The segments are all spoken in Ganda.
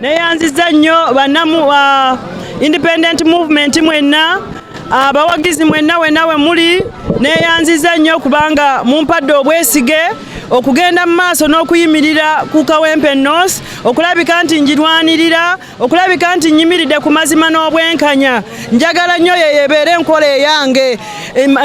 neyanziza nnyo banamu uh, independent movement mwenna abawagizi uh, mwenna wenna we muli neyanziza nnyo kubanga mumpadde obwesige okugenda mu maaso n'okuyimirira ku kawempe north okulabika nti njirwanirira okulabika nti nyimiridde ku mazima n'obwenkanya njagala nnyo yeyo ebeere enkola eyange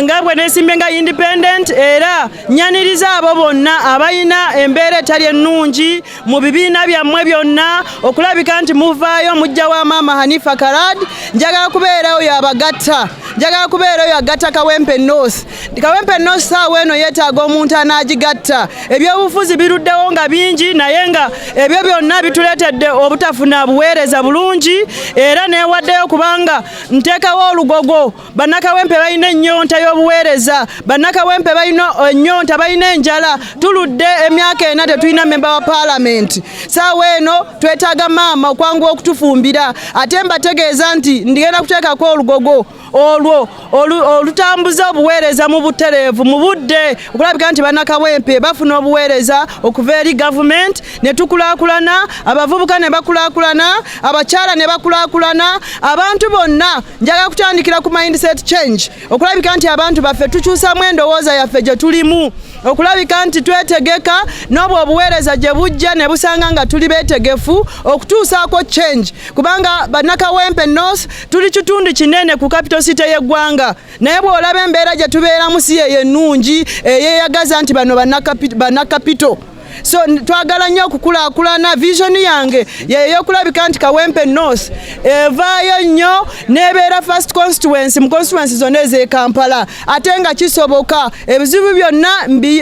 nga bwe nesimbe nga independent era nyaniriza abo bonna abalina embeera etali ennungi mu bibiina byammwe byonna okulabika nti muvaayo mujja wa maama hanifa karad njagala kubeera oyo abagatta njagala kubeera oyo agatta kawempe north kawempe north saawa eno yeetaaga omuntu anaagigatta ebyobufuzi biruddewo nga bingi naye nga ebyo byonna bituleetedde obutafuna buweereza bulungi era neewaddeyo kubanga nteekawo olugogo bannakawempe balina ennyonta y'obuweereza bannakawempe balina ennyonta balina enjala tuludde emyaka ena tetulina memba wa paalamenti saawa eno twetaaga maama okwanguwa okutufumbira ate mbategeeza nti ndigenda kuteekako olugogo olwo olutambuza obuweereza mu butereevu mu budde okulabika nti bannakawempe bafuna obuweereza okuva eri gavumenti ne tukulaakulana abavubuka ne bakulaakulana abakyala ne bakulakulana abantu bonna njaga kutandikira ku mindset change okulabika nti abantu baffe tukyusamu endowooza yaffe gye tulimu okulabika nti twetegeka n'obwo obuweereza gye bujja ne busanga nga tuli beetegefu okutuusaako change kubanga bannakawempe north tuli kitundu kinene ku capital city y'eggwanga naye bw'olaba embeera gye tubeeramu si yeyo ennungi eyeyagaza nti bano bannakapito so twagala nnyo okukulakulana vision yange yeyokulabika nti kawempe north evaayo nnyo nebeera first constituency mu constituency zonna ezekampala ate nga kisoboka ebizibu byonna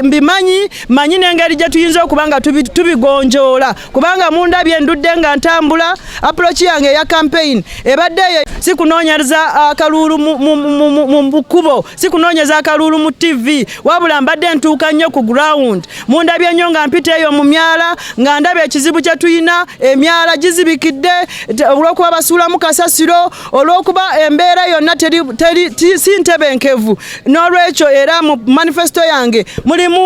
mbimanyi manyi nengeri gyetuyinza okuba nga tubigonjoola kubanga mundabye endudde nga ntambula approach yange eya campaign ebadde eyo sikunoonyereza akaluulu mu kkubo sikunoonyeza akaluulu mu tv wabula mbadde ntuuka nnyo ku ground mundabye nnyo nga mpita eyo mu myala nga ndaba ekizibu kye tulina emyala gizibikidde olw'okuba basuulamu kasasiro olw'okuba embeera yonna si ntebenkevu n'olwekyo era mu manifesito yange mulimu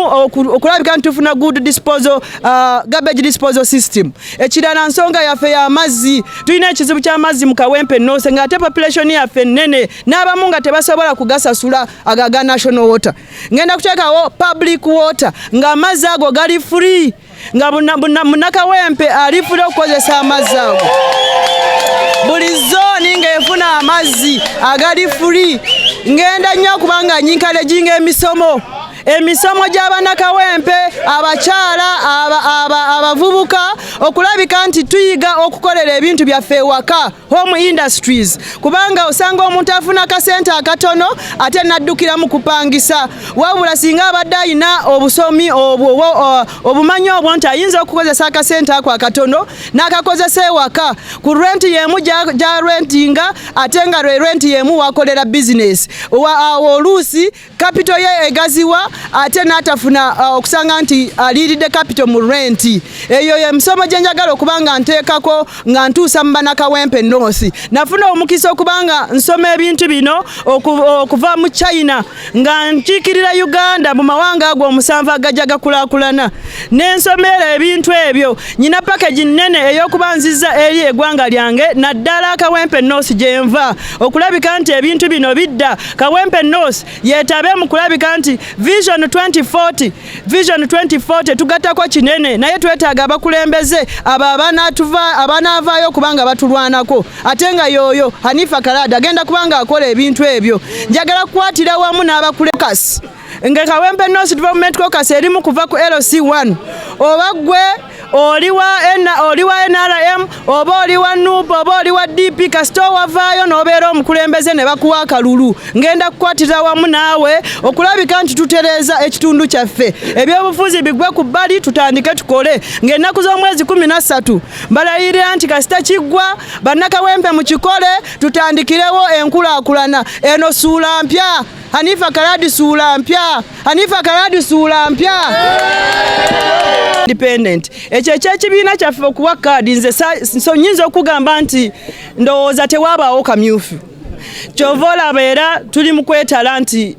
okulabika nti tufuna good disposal, uh, garbage disposal system ekirala nsonga yaffe y'amazzi tulina ekizibu ky'amazzi mu kawempe noose ng'ate population yaffe nnene n'abamu nga tebasobola kugasasula aga ga national water ngenda kuteekawo public water nga amazzi ago gali free nga munakawempe ali free okukozesa amazzi ago buli zooni ng'efuna amazzi agali free ngenda nnyo okubanga nyinkale ginga emisomo emisomo gy'abanakawempe abakyala abavubuka okulabika nti tuyiga okukolera ebintu byaffe ewaka home industries kubanga osanga omuntu afuna kasente akatono ate naddukira mu kupangisa wabula singa abadde alina obusomi obwo obumanyi obwo nti ayinza okukozesa akasente ako akatono n'akakozesa ewaka ku renti yemu gya rentinga ate nga lwe renti yemu wakolera bizinesi awo oluusi kapito ye egaziwa ate n'atafuna uh, okusanga nti aliiridde uh, kapito mu renti eyo emisomo gye njagala okuba nga nteekako nga ntuusa mu banakawempe north nafuna omukisa okuba nga nsoma ebintu bino okuva mu china nga nkiikirira uganda mu mawanga ago omusanvu agajja gakulakulana nensomeera ebintu ebyo nyina pakegi nnene ey'okuba nziza eri egwanga lyange naddala akawempe north gyenva okulabika nti ebintu bino bidda Kawempe North yetabe mu kulabika nti Vision 2040 Vision 2040 tugattako kinene naye twetaaga abakulembeze abo abanaavaayo okubanga batulwanako ate nga yooyo Hanifa Kalaada agenda kubanga akola ebintu ebyo njagala kukwatira wamu n'abakulembeze nga kawempe north development caucus erimu kuva ku lc1 oba gwe oli wa nrm oba oli wa nup oba oli wa dp kasita owavaayo n'obeera omukulembeze ne bakuwa akalulu ngenda kukwatira wamu naawe okulabika nti tutereeza ekitundu kyaffe ebyobufuzi bigwe ku bbali tutandike tukole ng'ennaku z'omwezi kumi na ssatu balayirira nti kasita kiggwa bannakawempe mu kikole tutandikirewo enkulaakulana eno suula mpya Hanifa Kaladi suula mpya, Hanifa Kaladi suula mpya. Independent ekyo ekyekibiina kyaffe okuwa kaadi nze so nyinza okugamba nti ndowooza tewabaawo kamyufu kyova olaba era tuli mu kwetala nti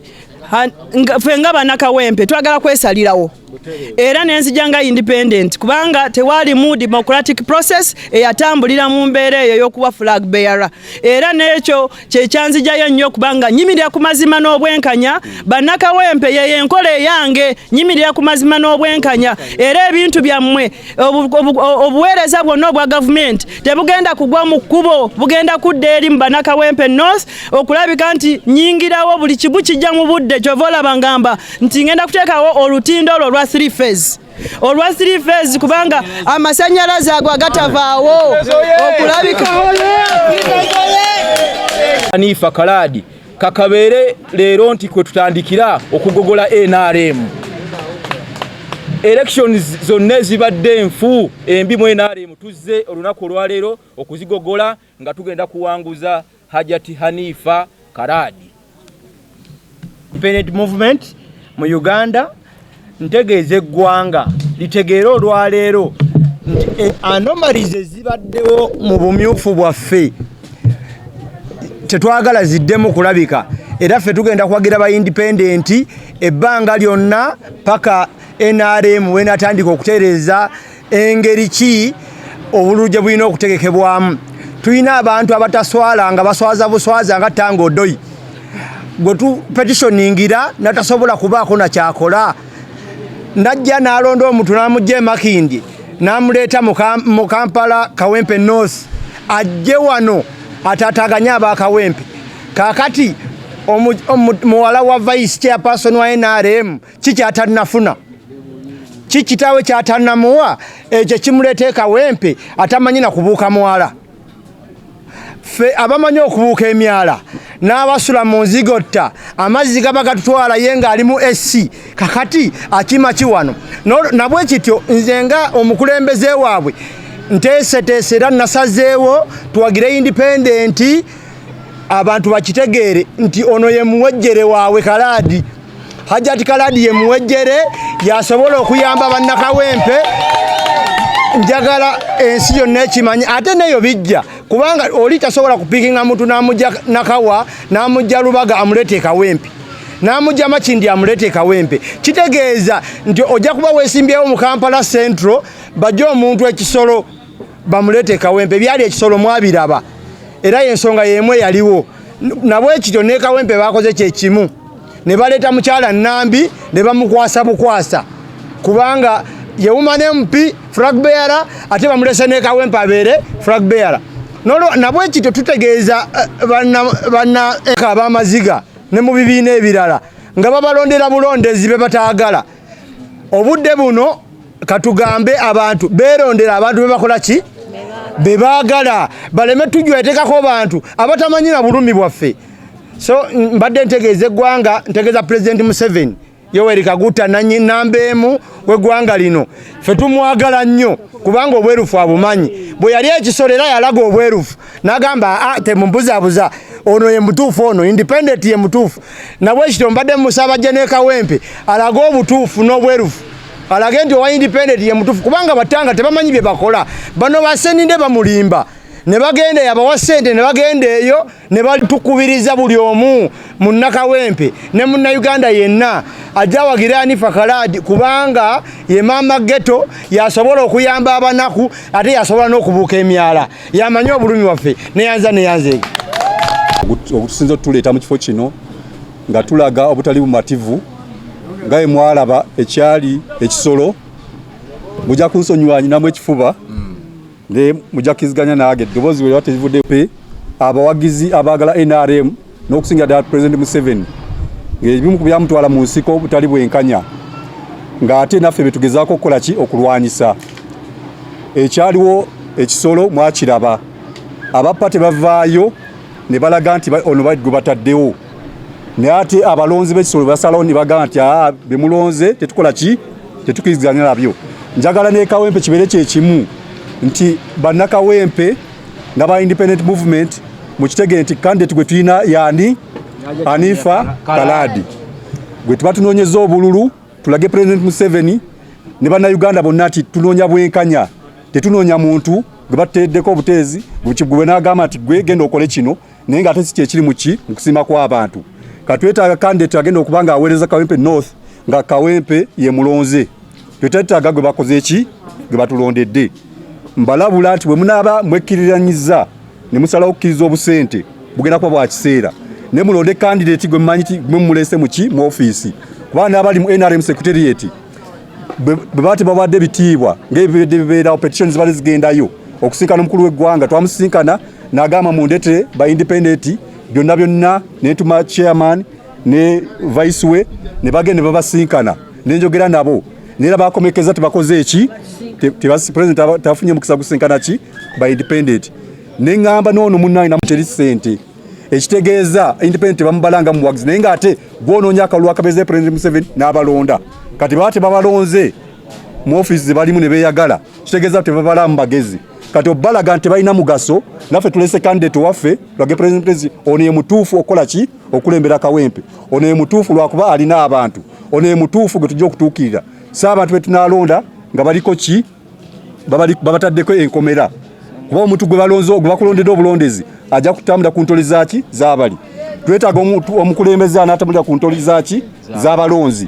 ffe nga banakawempe twagala kwesalirawo era nenzija nga independent kubanga tewalimu democratic process eyatambulira mu mbeera eyo yokuba flag bearer era nekyo kyekyanzijayo nnyo kubanga nyimirira ku mazima n'obwenkanya bannakawempe yeyo enkola eyange nyimirira ku mazima n'obwenkanya era ebintu byammwe obuweereza bwonna obwa gavumenti tebugenda kugwa mu kkubo bugenda kudda eri mu bannakawempe north okulabika nti nyingirawo buli kimu kijja mu budde kyova olaba ngamba nti ngenda kuteekawo olutindo olwo olwa three phase olwa three phase kubanga amasanyalaze ago agatavaawo okulabika anifa kalaadi kakabeere leero nti kwe tutandikira okugogola nrm elections zonna ezibadde enfu embi mu nrm tuzze olunaku olwaleero okuzigogola nga tugenda kuwanguza hajati hanifa karadi Parent movement mu uganda ntegeeza eggwanga litegeere olwaleero nti e, anomalies ezibaddewo mu bumyufu bwaffe tetwagala ziddemu kulabika era ffe tugenda kuwagira ba indipendenti ebbanga lyonna paka nrm wenatandika okutereeza engeri ki obululu gye bulina okutegekebwamu tulina abantu abataswala nga baswaza buswaza nga tanga odoyi gwe tupetitioningira natasobola kubaako nakyakola najja nalonda omuntu namugja emakindi namuleeta mu kampala kawempe north ajje wano atataganye abakawempe kakati muwala wa vice chairperson wa nrm ki kyatanafuna ki kitaawe kyatanamuwa ekyo kimuleeta ekawempe atamanyi na kubuuka mwala ffe abamanyi okubuuka emyala n'abasula mu nzigotta amazzi gaba gatutwala ye ng'alimu esi kakati akima ki wano nabwe kityo nze nga omukulembeze waabwe nteeseteese era nasazeewo tuwagire indipendenti abantu bakitegeere nti ono ye muwejjere waabwe kalaadi hajati kalaadi ye muwejjere yasobola okuyamba bannakawempe njagala ensi yonna ekimanye ate neyo bijja kubanga oli tasobola kupikinga muntu namujja nakawa namujja lubaga amulete ekawempe namujja makindi amulete ekawempe kitegeeza nti ojja kuba wesimbyewo mu kampala central bajja omuntu ekisolo bamuleete kawempe byali ekisolo mwabiraba era yensonga yemu eyaliwo nabwe kityo ne kawempe bakoze kyekimu ne baleeta mukyala nambi ne bamukwasa bukwasa kubanga yewuma ne mpi frag beara ate bamulese ne kawempe abeere frag beara nolo nabwe kityo tutegeeza eh, banna banna eka abamaziga ne mu bibiina ebirala nga babalondera bulondezi be bataagala obudde buno katugambe abantu berondera abantu bebakola ki bebagala baleme tujwetekako bantu abatamanyira bulumi bwaffe so mbadde ntegeeza eggwanga ntegeeza pulezidenti museveni yoweri kaguta nanyi namba emu wegwanga lino fe tumwagala nnyo kubanga obwerufu abumanyi bwe yali ekisolo era yalaga obwerufu nagamba ah, temumbuzabuza ono ye mutuufu ono independent ye mutuufu nabwekityo mbadde musabajja ne kawempe alage obutuufu n'obwerufu alage nti owa independent ye mutuufu kubanga batanga tebamanyi bye bakola bano baseninde bamulimba ne bagenda yabawa sente ne bagenda eyo ne batukubiriza buli omu munnakawempe ne munnayuganda yenna ajja wagira anifa kalaadi kubanga ye maama geto yasobola okuyamba abanaku ate yasobola n'okubuuka emyala yamanyi obulumi waffe neyanza neyanze ogutusinza otuleeta mu kifo kino nga tulaga obutali bumativu nga emwalaba ekyali ekisolo muja kunsonyiwa nyinamu ekifuba mm. ne muja kiziganya nage eddoboozi bwe lyaterivudde pe abawagizi abaagala nrm n'okusingira ddala pulezidenti museveni ng'ebimu ku byamutwala mu nsiko butali bwenkanya ng'ate naffe betugezaako okukola ki okulwanyisa ekyaliwo ekisolo mwakiraba abappa tebavaayo ne balaga nti ono gwe bataddewo naye ate abalonzi b'ekisolo basalawo ne bagamba nti aa bemulonze tetukola ki tetukiriziganya nabyo njagala nekawempe kibeere kyekimu nti bannakawempe nga ba independent movement mukitegere nti candidate gwe tulina yani Anifa Kaladi gwe tuba tunoonyeza obululu tulage President Museveni ne bannayuganda bonna nti tunoonya bwenkanya tetunoonya muntu gwe bateeddeko obuteezi gwe n'agamba nti gwe genda okole kino naye nga ate si kyekiri muki mu kusiima kw'abantu katwetaaga kandidate agenda okuba nga aweereza kawempe north nga kawempe ye mulonze twetwetaaga gwe bakoze ki gwe batulondedde mbalabula nti bwe munaaba mwekkiriranyiza ne musalawo okukkiriza obusente bugenda kuba bwa kiseera ne mulonde kandidate gwe mumanyi ti mwe mumulese muki mu ofiisi kuba n'abali mu nrm secretariat bwe baba tebawadde bitiibwa ng'ebibedde bibeerawo petitions bali zigendayo okusinkana omukulu w'eggwanga twamusinkana nagamba mundetere ba independent byonna byonna netuma chairman ne vice we ne bagende babasinkana nenjogera nabo nera bakomekeza tebakoze eki tebasi president tafunye mukisa kusinkana ki ba independent nengamba nono munange namuteri sente ekitegeeza independent bamubalanga muwagizi naye nga ate gwonoonya akalulu akabeeza president museveni n'abalonda kati baba tebabalonze mu offiisi zebalimu ne beeyagala kitegeeza tebabalaamu bagezi kati obalaga nti balina mugaso naffe tulese candidate waffe lwage president ono ye mutuufu okukola ki okulembera kawempe ono ye mutuufu lwakuba alina abantu ono ye mutuufu gwe tujja okutuukirira si abantu be tunalonda nga baliko ki babataddeko enkomera kuba omuntu gwe balonze gwe bakulondedde obulondezi ajja kutambula ku ntoli zaki zabali twetaaga omukulembeze anaatambulira ku ntoli zaki zabalonzi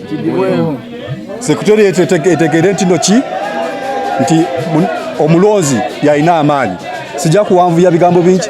Secretariat etegere ntino ki nti omulonzi yalina amaanyi sijja kuwanvuya bigambo bingi